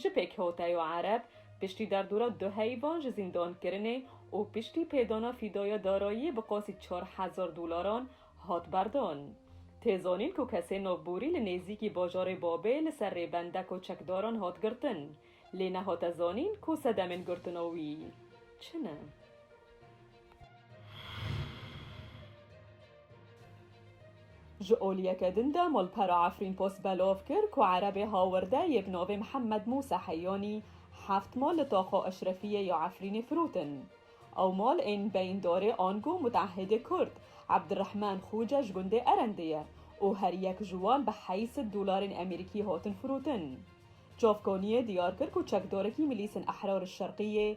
Ji pêkhota yo Ereb piştî derdora du heyvan ji zîndankirinê û piştî pêdana fîdaya darayiyê bi qasî çar hezar dolaran hat berdan. Tê zanîn ku kesên navborî li nêzîkî bajarê Babê li ser rêbendeka çekdaran hat girtin, lê nehate zanîn ku sedemên girtina wî çi ne. Ji oliyeke din de malpera Efrîn Post belov kir ku erebê hawirde yê bi navê Mihemed Mûsa Heyanî heft mal li Taxa Eşrefiyê ya Efrînê firotin. Ew mal ên beyîndarê Ango Mutehedê Kurd, Ebdirehman Xûce ji gundê Erendê ye û her yek ji wan bi heyî sed dolarên Emerîkî hatin firotin. Çavkaniyê diyar kir ku çekdarekî Milîsên Ehrarê Şerqiyê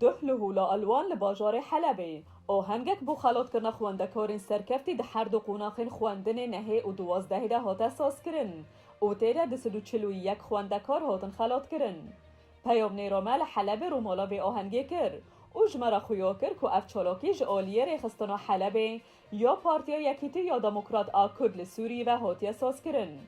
Duh li Hûla Elwan li bajarê Helebê ohengek bo xelatkirina xwendekarên serkeftî di her du qonaxên xwendinê nehê û duwazdehê de hate sazkirin û tê de du sed û çil û yek xwendekar hatin xelatkirin. Peyamnêra me li Helebê rûmala vê ahengê kir û ji me re xuya kir ku ev çalakî ji aliyê Rêxistina Helebê Ya Partiya Yekîtî ya Demokrat a Kurd li Sûriyê ve hatiye sazkirin.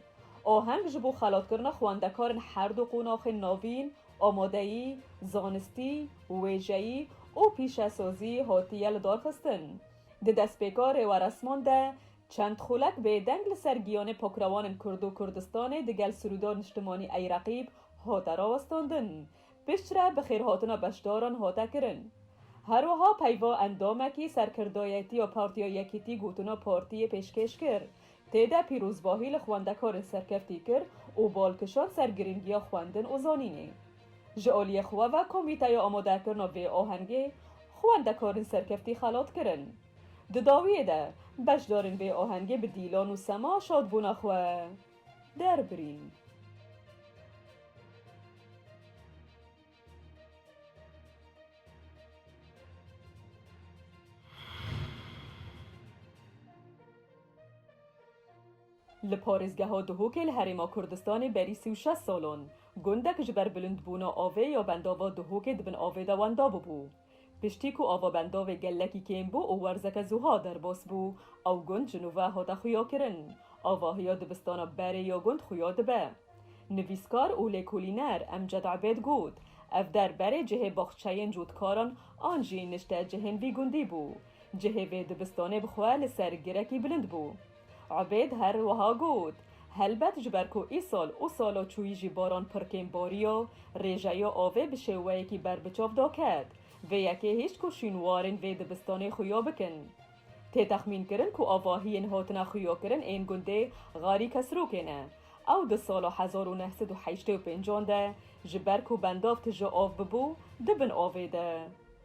Aheng ji bo xelatkirina xwendekarên her du qonaxên navîn, amadeyî, zanistî, wêjeyî û pîşesazî hatiye lidarxistin. Di destpêka rêweresman de çend xulek bêdeng li ser giyanê pakrewanên Kurd û Kurdistanê digel Sirûdar Niştimanî Eyreqîb hate rawestandin. Piştre bi xêrhatina beşdaran hate kirin. Her wiha peyva endamekî serkirdayetiya Partiya Yekîtî gotina partiyê pêşkêş kir. Tê de pîrozbahî li xwendekarên serkeftî kir û bal kişand ser girîngiya xwendin û zanînê. Ji aliyê xwe ve komîteya amadekirina vê ahengê xwendekarên serkeftî xelat kirin. Di dawiyê de beşdarên vê ahengê bi dîlan û sema şadbûna xwe. derbirîn. Li parêzgeha Duhokê li Herêma Kurdistanê berî sî û şeş salan, gundek ji ber bilindbûna avê ya bendava Duhokê di bin avê de wenda bûbû. Piştî ku avabendovê gelekî kêm bû û werzeke zuha derbas bû, ew gund ji nûve hate xuyakirin. Avahiya dibistana berê ya gund xuya dibe. Nivîskar û lêkolîner Emced Ebêd got, Ev der berê cihê baxçeyên cotkaran an jî nişte cihên vî gundî bû. Cihê vê dibistanê bi xwe li ser girekî bilind bû. Ubêd her wiha got, Helbet ji ber ku îsal û sala çûyî jî baran pir kêm bariya, rêjeya avê bi şêweyekî ber bi çav da ket. Vê yekê hişt ku şînwarên vê dibistanê xuya bikin. Tê texmînkirin ku avahiyên hatina xuyakirin ên gundê Xarî Kesrokê ne. Ew di sala hezar û neh sed û heştê û pênc an de ji ber ku bendav tije av bibû, di bin avê de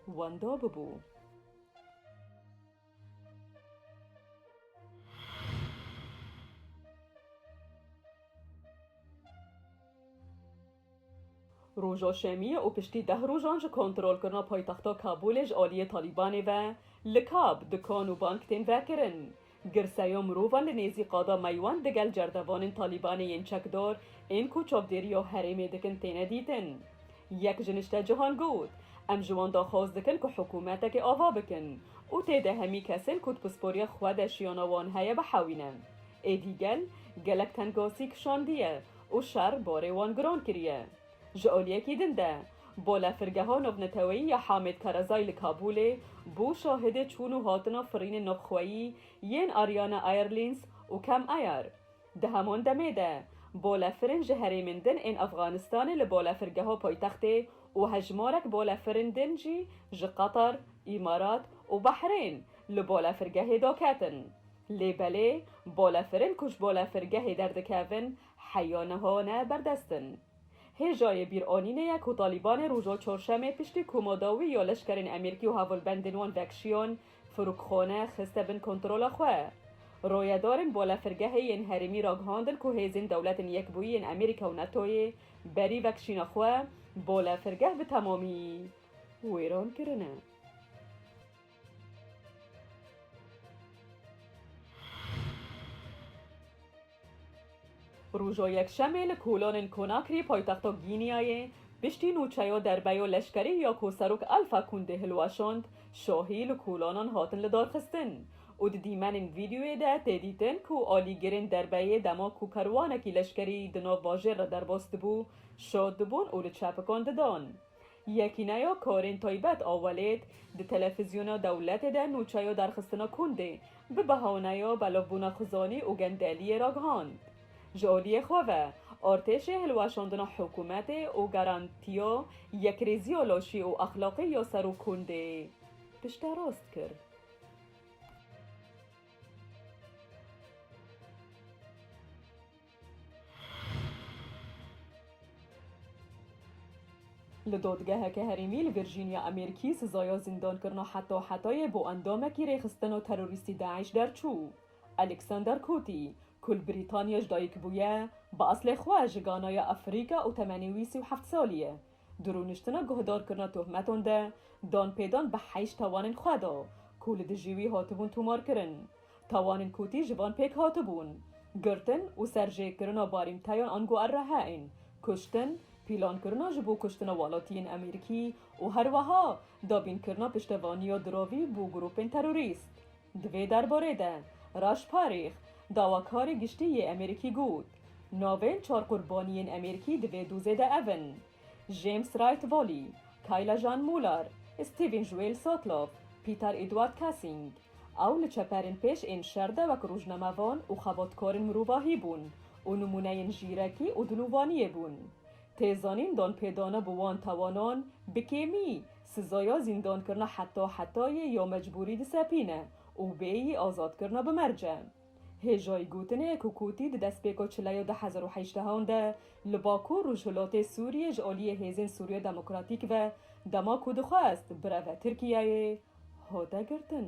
wenda bibû. Roja Şemiyê û piştî deh rojan ji kontrolkirina paytexta Kabûlê ji aliyê Talîbanê ve likab, dikan û bank tên vekirin. Girseya mirovan li nêzî qada Meywan digel cerdevanên Talîbanê yên çekdar ên koçakgeriya herêmê dikin têne dîtin. Yek ji niştecihan got, Em ji wan daxwaz dikin ku hikûmetekê ava bikin û tê de hemî kesên ku di pisporiya xwe de jiyana wan heye bihewîne. Êdî gel, gelek tengasî kişandiye û şer barê wan giran kiriye. Ji aliyekî din de, Balafirgeha Navneteweyî ya Hamid Karazai li Kabûlê bû şahidê çûn û hatina firînên navxweyî yên Ariana Airlines û Cam Air. Di heman demê de balefirên ji herêmên din ên Efxanistanê li balefirgeha paytextê û hejmarek balefirên din jî ji Qatar, Îmarat û Behrêyn li balefirgehê daketin. Lê belê balefirên ku ji balefirgehê derdikevin heya niha ne berdest in. Hêjayê bîranînê ye ku Talîbanê roja Çarşemê piştî ku madawî ya leşkerên Emerîkî û hevalbendên wan vekşiyan, Firokxane xiste bin kontrola xwe. Royedarên balafirgehê yên herêmî ragihandin ku hêzên Dewletên Yekbûyî yên Amerîka û NATO'yê berî vekşîna xwe balafirgeh bi temamî wêran kirine. Roja Yekşemê li kolanên Konakrî paytexta Gînîyayê piştî nûçeya derbeya leşkerî ya ku Serok Alfa Kundê hilweşand, şahî li kolanan hatin lidarxistin û di dîmenên vîdeoyê de tê dîtin ku alîgirên derbeyê dema ku kerwanekî leşkerî di nav bajêr re derbas dibû, şad dibûn û li çepikan didan. Yekîneya Karên Taybet a Welêt di Telefîzyona Dewletê de nûçeya derxistina kundê bi behaneya belavbûna xizanî û gendeliyê ragihand. Ji aliyê xwe ve artêşê hilweşandina hikûmetê û garantiya yekrêziya laşî û exlaqî ya ser û kundê pişterast kir. Li dadgeheke herêmî li Virjînya Amerîkî sizaya zîndankirina heta hetayê bo endamekî rêxistina terorîstî DAIŞ derçû. Alexander Coty, ku li Brîtanya ji dayik bûye, bi aslê xwe ji Ganaya Afrîka û temenê wî sî û heft salî ye, di rûniştina guhdarkirina tohmetan de dan pêdan bi heyşt tawanên xwe da ku li dijî wî hatibûn tomarkirin. Tawanên kotî ji van pêk hatibûn, girtin û serjêkirina barîmteyan ango RHE'ên, kuştin, pîlankirina ji bo kuştina welatiyên Amerîkî û herweha dabînkirina piştevaniya diravî bo grûpên terorîst. Di vê derbarê de Raş Parîx, dawakarê giştî yê Amerîkî got, Navên çar qurbaniyên Amerîkî di vê dozê de ev in, James Wright Volley, Kayla Jean Muller, Stephen Joel Sotloff, Peter Edward Kassing. Ew li çeperên pêş ên şer de wek rojnamevan û xebatkarên mirovahî bûn û nimûneyên jîrekî û dilûvaniyê bûn. Tê zanîn danpêdana bi wan tawanan bi kêmî Sizoya zîndankirina heta hetayê ya mecbûrî disepîne û bê yî azatkirina bi merc e. Hêjayî gotinê ku kotî di destpêka çileya du hezar û hejdeh an de li Bakur Rojhilatê Sûriyê ji aliyê hêzên Sûriya Demokratîk ve dema ku dixwest bireve Tirkiyeyê hate girtin.